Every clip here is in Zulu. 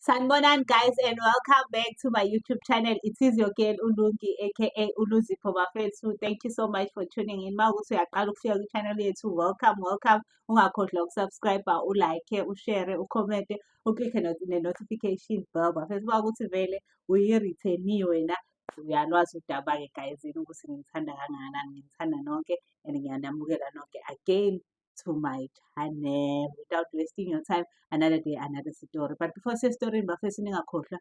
Sanibonani guys and welcome back to my YouTube channel. It is your girl Ulungi aka Uluzipho Bafethu. Thank you so much for tuning in. Mawukuthi uyaqala ukufika ku channel yethu, welcome, welcome. Ungakhohlwa ukusubscribe, ulike, ushare, ucomment, uclick ne notification bell. Bafethu mawukuthi vele uyi-returnie wena uyalwazi udaba ke guys ukuthi ngithanda kangakanani, ngithanda nonke and ngiyanamukela nonke again. to my channel without wasting your time another day another story but before sesitorini bafesi ningakhohlwa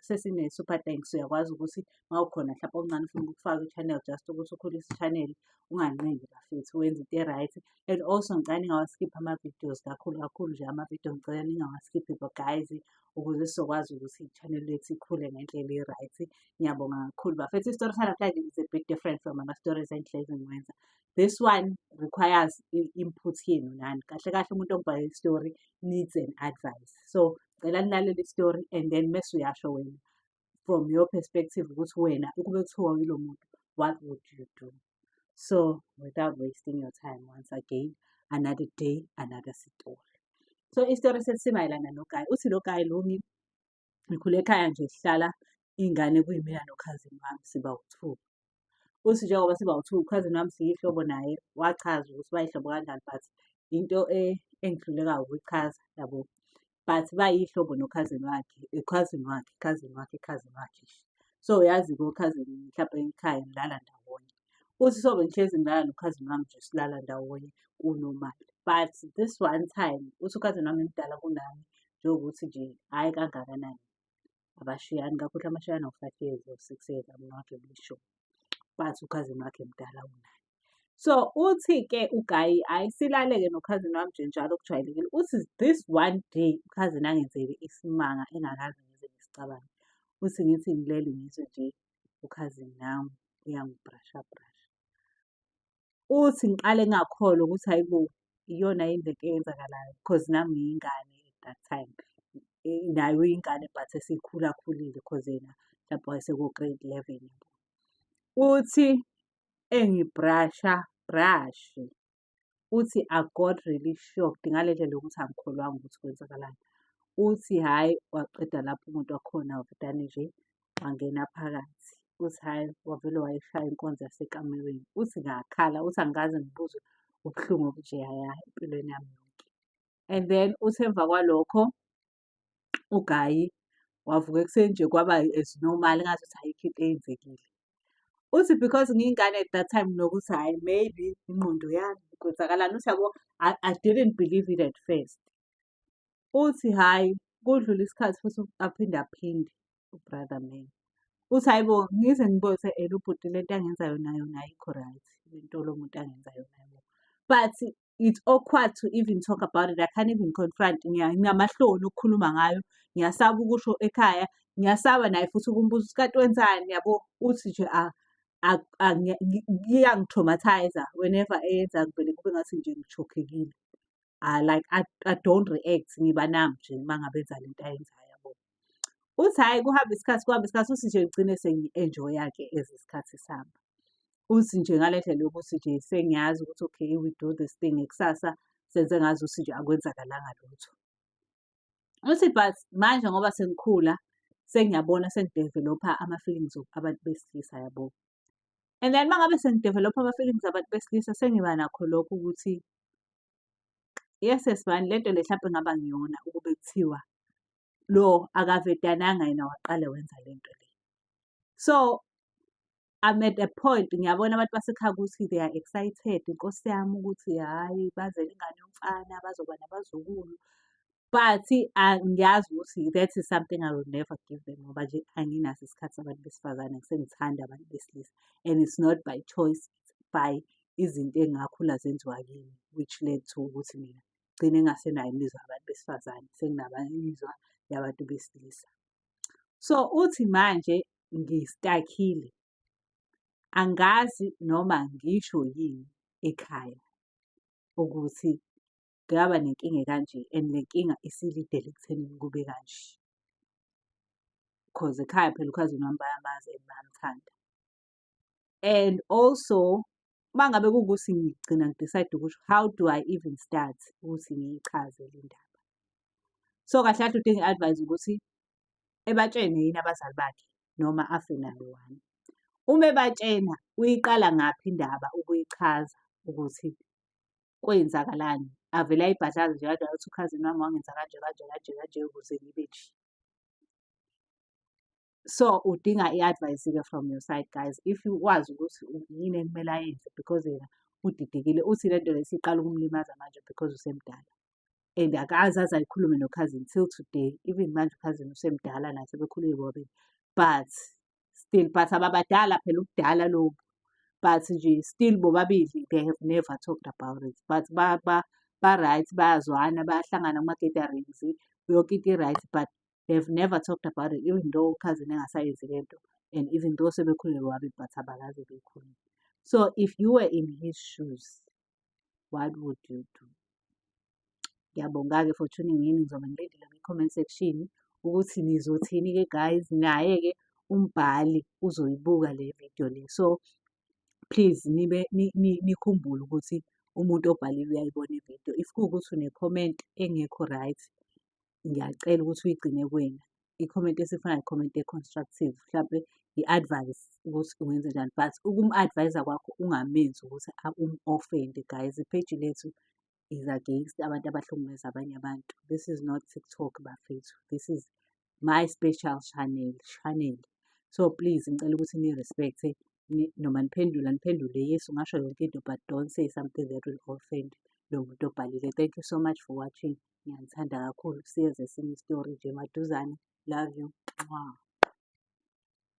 sesine-super thanks uyakwazi ukuthi ma ukhona mhlawumpe okuncane ufuna ukufaka i-channel just ukuthi ukhulise i-channel unganqindi bafethu wenza into e-right and also ngicela ningawaskiphi ama-videos kakhulu kakhulu nje ama-video ngicela ningawaskiphi bo guys ukuze sizokwazi ukuthi i-channel lethu ikhule ngendlela e-right ngiyabonga kakhulu bafethu isitori sanamhlanje is a bit different from ama-stories engihlezi ngiwenza this one requires i-input yenu nani kahle kahle umuntu okubhala i-story needs an advice so cela nilalele i-story and then mese uyasho wena from your perspective ukuthi wena ukube kuthiwa yilo muntu what would you do so without wasting your time once again another day another story so isitori sesimayelana nogayi uthi lo gayi lumi Ngikhule ekhaya nje sihlala iy'ngane kuyimina nokhazini wami siba wu-two. Uthi njengoba siba wu-two ukhazini wami siyihlobo naye wachaza ukuthi bayihlobo kanjani but into e, engihluleka ukuyichaza yabo. But bayihlobo nokhazini wakhe, ukhazini wakhe, ukhazini wakhe, ukhazini wakhe. So yazi-ke okhazini mhlampe ekhaya nilala ndawonye. uthi sobe ngihlezi ngilala nokhazini wami nje silala ndawonye unormal but this one time uthi ukhazini wami mdala kunami njengokuthi nje hhayi kangakanani abashiyani kakhulu amashiyana u-five years or six years i'm not really sure but ukhazini wakhe mdala unaye so uthi-ke ugayi hhayi silale-ke nokhazini wami nje njalo kujwayelekile uthi this one day ukhazini angenzele isimanga engakaze ngize ngisicabange uthi ngithi ngilele ngizwe nje ukhazini nami uyangibrasha brasha. Uthi ngiqale ngingakholwa ukuthi hhayi bo iyona yini lento eyenzakalayo because nami ngiyingane at that time. Naye uyingane but esikhulakhulile cause yena mhlampe wayeseko-grade eleven. Uthi engibrasha brashe uthi I got really shocked ngale ndlela yokuthi angikholwanga ukuthi kwenzakalani. Uthi hhayi waqeda lapho umuntu wakhona wavudane nje wangena phakathi. Uthi hhayi wavele wayishaya inkonzo yasekamerweni. Uthi ngakhala, uthi angikaze ngibuzwe ubuhlungu obunjeyaya empilweni yami yonke. And then uthi emva kwalokho ugayi wavuka ekuseni nje kwaba as normal ngathi ukuthi ayikho into eyenzekile. Uthi because ngiyingane at that time nokuthi hhayi maybe ingqondo yami kwenzakalani uthi yabo I, I didn't believe it at first. Uthi hhayi kudlule isikhathi futhi aphinde aphinde. ubrother man uthi hayi bo ngize ngibose elo bhuti le nto angenza yona yona ayikho right le nto lo muntu angenza yona yona but it's awkward to even talk about it i can't even confront ngiyamahloni ukukhuluma ngayo ngiyasaba ukusho ekhaya ngiyasaba naye futhi ukumbuza ukuthi kati wenzani yabo uthi nje ah, ah, ah, iyangitraumatizer whenever eyenza ngivele kube ngathi nje ngichokhekile like I, i don't react ngiba nam nje uma ngabe enza le nto ayenzayo yabo Uthi hhayi kuhambe isikhathi kuhambe isikhathi uthi nje ngigcine sengi-enjoya-ke as isikhathi sihamba. Uthi nje ngale ndlela yokuthi nje sengiyazi ukuthi okay we do this thing kusasa senze ngazi ukuthi nje akwenzakalanga lutho. Uthi but manje ngoba sengikhula sengiyabona sengi-develop-a ama-feelings abantu besilisa yabo. And then uma ngabe sengidevelopha ama-feelings abantu besilisa sengiba nakho lokho ukuthi yes sesibani le nto le hlampe ngaba ngiyona ukube kuthiwa lo akavedananga yena waqale wenza le nto le so I'm at a point ngiyabona abantu basekhaya ukuthi they are excited inkosi yami ukuthi hhayi bazele ingane yomfana bazoba nabazukulu but ah, ngiyazi ukuthi that is something I will never give them ngoba nje anginaso isikhathi sabantu besifazane ngisengithanda abantu besilisa and it's not by choice by izinto engakhula zenziwa kimi which led to ukuthi mina gcine engasenayo imizwa yabantu besifazane senginabamizwa yabantu besilisa so uthi manje ngistakhile angazi noma ngisho yini ekhaya ukuthi ngaba nenkinga ekanje and le nkinga isilidele ekuthenini kube kanje. Cause ekhaya phela ukhazini wami bayamazi and bayamthanda. And also uma ngabe kuwukuthi ngigcina ngidicayide ukuthi how do I even start ukuthi ngiyichaze le ndaba. So kahle kahle udinga i-advice ukuthi ebatshene yini abazali bakhe noma afe nalo one. Uma ebatshena uyiqala ngaphi indaba ukuyichaza ukuthi kwenzakalani avele ayibhadlaze nje kanjalo ukuthi ukhazini wami wangenza kanje kanje kanje kanje ukuze ngibe nje so udinga i-advice ke from your side guys if you wazi ukuthi yini ekumele ayenze because yena udidekile uthi le nto lesiqala ukumlimaza manje because usemdala and akazi aze ayikhulume nokhazini till today even manje ukhazini usemdala naye sebekhulile bobabili but still but ababadala phela ubudala lobu but nje still bobabili they have never talked about it but ba ba ba-right bayazwana bayahlangana kuma-gatherings yonke into i-right but they have never talked about it even though ukhazini engasayenzi le nto and even though sebekhulelwe wabe but abakaze bekhulile so if you were in his shoes what would you do? Ngiyabonga-ke for tuning in, ngizobe ngilindile kwi-comment section ukuthi nizothini-ke guys, naye-ke umbhali uzoyibuka le video le. So please nibe nikhumbule ukuthi umuntu obhalile uyayibona ividiyo. If kuwukuthi une-comment engekho right, ngiyacela ukuthi uyigcine kuwena. Ikhomenti esifanayo ikhomenti e-constructive, mhlampe i-advice ukuthi ungenze njani but ukumu-advise-a kwakho ungamenzi ukuthi umu-ofende guys. Ipheji lethu is against abantu abahlukumeza abanye abantu. This is not TikTok bafethu, this is my special channel, channel. So please ngicela ukuthi ni-respect-e noma niphendula niphendule yes ungasho yonke into but don't say something that will offend lo muntu obhalile. Thank you so much for watching. Ngiyanithanda kakhulu. Siyeza esinye isitori nje maduzane. Love you. Mwah.